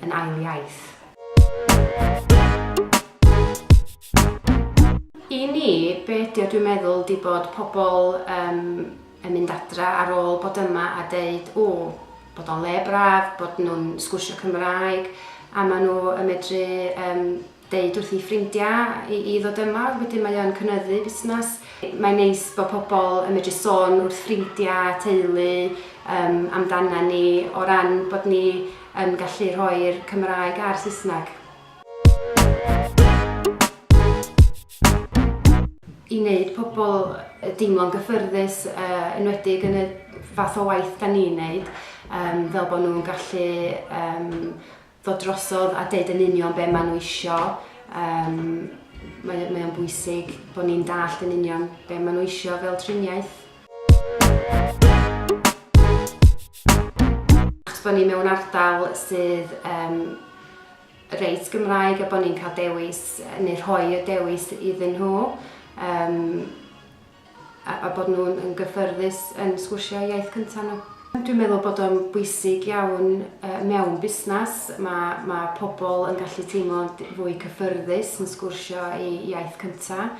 yn ail iaith. I ni, be ydy o dwi'n meddwl di bod pobl um, yn mynd adra ar ôl bod yma a deud, o, bod o'n le braf, bod nhw'n sgwrsio Cymraeg, a maen nhw yn medru um, deud wrth ei ffrindiau i i ddod yma, wedyn mae o yn cynyddu busnes. Mae'n neis bod pobl yn medru sôn wrth ffrindiau a teulu yym amdanan ni o ran bod ni yn gallu rhoi'r Cymraeg a'r Saesneg. I wneud pobl deimlo'n gyffyrddus yy enwedig yn y fath o waith 'dan ni'n neud yym fel bod nhw'n gallu yym ddod drosodd a deud yn union be maen nhw isio. Um, mae, mae o'n bwysig bod ni'n dallt yn union be maen nhw isio fel triniaeth. Achos bod ni mewn ardal sydd um, reit Gymraeg a bod ni'n cael dewis neu rhoi y dewis iddyn nhw. Um, a bod nhw yn gyffyrddus yn sgwrsio eu iaith cyntaf nhw. Dwi'n meddwl bod o'n bwysig iawn mewn busnes, mae pobl yn gallu teimlo'n fwy cyffyrddus yn sgwrsio eu iaith cyntaf.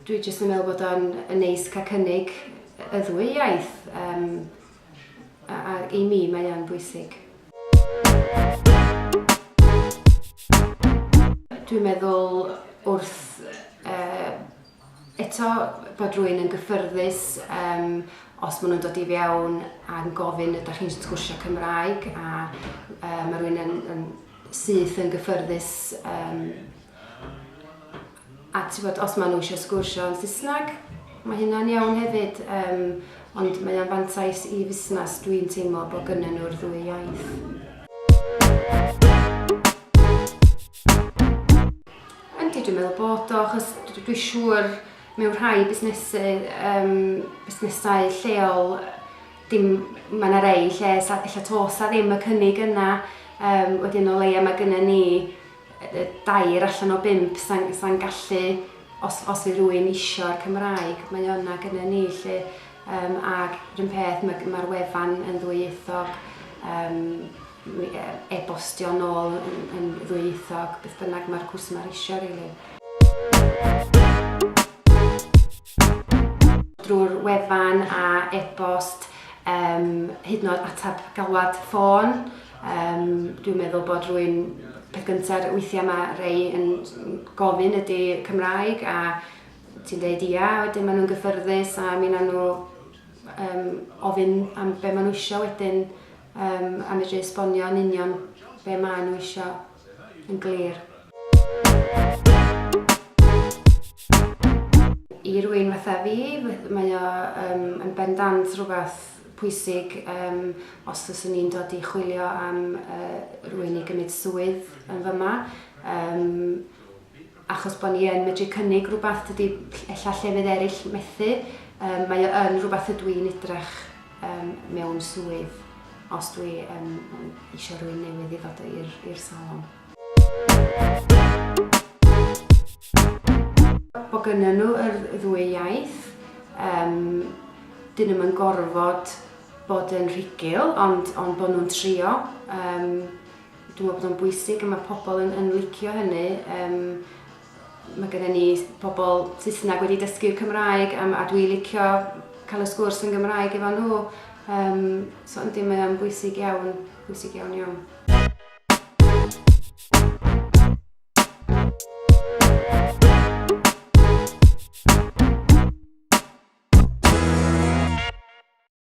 Dwi jyst yn meddwl bod o'n neis cael cynnig y ddwy iaith. ac i mi mae e'n bwysig. Dwi'n meddwl wrth eto bod rwy'n yn gyffyrddus yym os maen nhw'n dod i fewn a'n gofyn ydych chi'n sgwrsio Cymraeg a mae rwy'n yn syth yn gyffyrddus yym A tibod, os maen nhw eisiau sgwrsio yn Saesneg, mae hynna'n iawn hefyd. Yym, ond mae o'n fantais i fusnes, dwi'n teimlo, bod gynnyn nhw'r ddwy iaith. Yndi, dwi'n meddwl bod o, achos dwi'n siŵr mewn rhai busnesau, um, busnesau lleol, dim, mae yna rei lle ella tos a ddim y cynnig yna, um, wedyn o leia mae gyda ni dair allan o bump sa'n sa'n gallu os os yw rhywun isio'r Cymraeg mae o yna gyda ni 'lly yym ag run peth ma' ma'r wefan yn ddwyieithog yym mi yy e-bostio nôl yn yn ddwyieithog beth bynnag ma'r cwrs yma isio rili. drwy'r wefan a e-bost yym hyd yn o'd atab galwad ffôn. Yym, dwi'n meddwl bod rwy'n... peth gyntaf, weithiau mae rhai yn gofyn ydy Cymraeg a ti'n dweud ia, wedyn maen nhw'n gyffyrddus a mi wnawn nhw yym ofyn am be maen nhw isio wedyn yym a medru esbonio yn union be maen nhw isio. yn glir. I rywun fatha fi, mae o um, yn bendant rhywbeth pwysig um, os fyswn ni'n dod i chwilio am uh, rwy'n i gymryd swydd yn fyma. Um, achos bod ni yn medru cynnig rhywbeth dydy ella llefydd eraill methu, yym mae o yn rhywbeth ydw i'n edrych yym mewn swydd os dwi yn eisiau rhywun newydd i ddod i'r salon. Bod gynnyn nhw yr ddwy iaith, yym dyn nhw'm yn gorfod bod yn rhugl ond ond bod nhw'n trio, yym. Dwi'n meddwl bod o'n bwysig a mae pobl yn, yn licio hynny. Um, mae gennym ni pobl Saesneg wedi dysgu Cymraeg a, a dwi'n licio cael y sgwrs yn Gymraeg efo nhw. Um, so yndi, mae o'n bwysig iawn, bwysig iawn iawn.